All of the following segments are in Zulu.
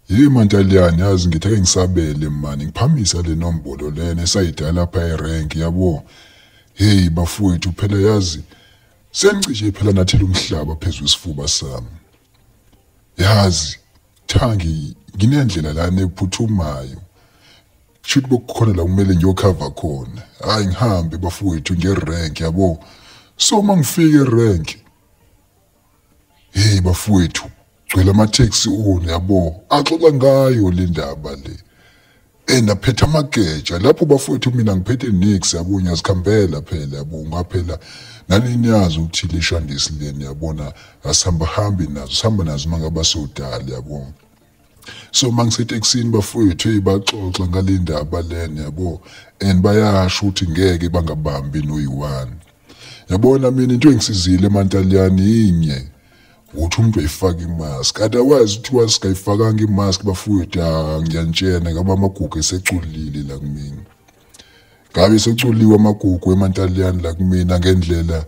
Hey Mantaliyane yazi ngithi ake ngisabele mani ngiphamise le nombolo lena esayidala lapha erank yabo hey bafowethu phela yazi sengicishe phela nathela umhlaba phezulu isifuba sami yazi thangi nginendlela lana ephuthumayo shuthi bokukhona la kumele ngiyokhava khona hayi ngihambe bafowethu ngerank yabo so uma ngifike erank hey bafowethu gcwele amatheksi one yabo axoxa ngayo le ndaba le and aphetha amageja lapho bafowethu mina ngiphethe nix yabo ngiyazikhambela phela yabo ngaphela nanini yazi ukuthi lishandisi leni yabona asihamba hambi nazo sihamba nazo uma ngaba sodala yabo so uma ngiseteksini bafowethu hey baxoxa ngale ndaba lena yabo and bayasho ukuthi ngeke bangabambi noyi-one yabona mina into engisizile emantaliyane yinye ukuthi umuntu ayifake imask otherwise kuthiwa singayifakanga imask bafowethu ah, ngiyanitshena ngabe amagugu eseculile la kumina ngabe sekuculiwe amagugu emantaliyane la kumina ngendlela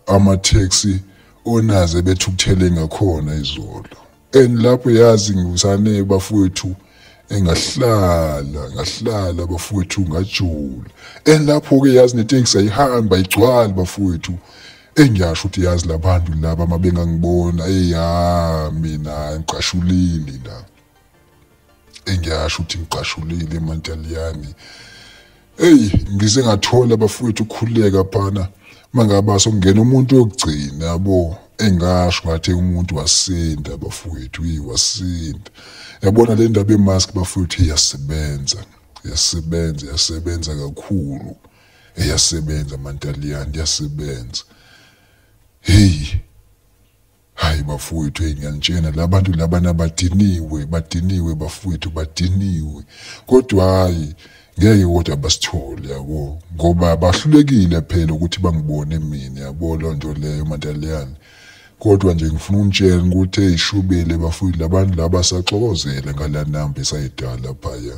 amatheksi onaze bethukuthele ngakhona izolo and lapho yazi ngiwusane bafowethu engahlala ngahlala bafowethu ngajula and lapho ke yazi netekisi ayihamba igcwala bafowethu engiyasho ukuthi yazi labantu laba mabengangibona eya mina ngiqashulile la engiyasho ukuthi ngiqashulile emantaliyani eyi ngize ngathola bafowethu ukukhululeka phana uma ngaba sokungena umuntu wokugcina yabo engasho ngathi umuntu wasinda bafowethu yi wasinda yabona le ndaba yemask bafowethu iyasebenza iyasebenza iyasebenza kakhulu iyasebenza mantaliyani iyasebenza heyi hayi bafowethu hey ngiyanitshena labantu labana badiniwe badiniwe bafowethu badiniwe kodwa hayi ngeke kodwa basithole yabo ngoba bahlulekile phela ukuthi bangibone mina yabo loo nto leyo mantaliyane kodwa nje ngifuna unitshela ukuthi eyishubile bafowethu labantu laba saxokozele ngala namba esayidala phaya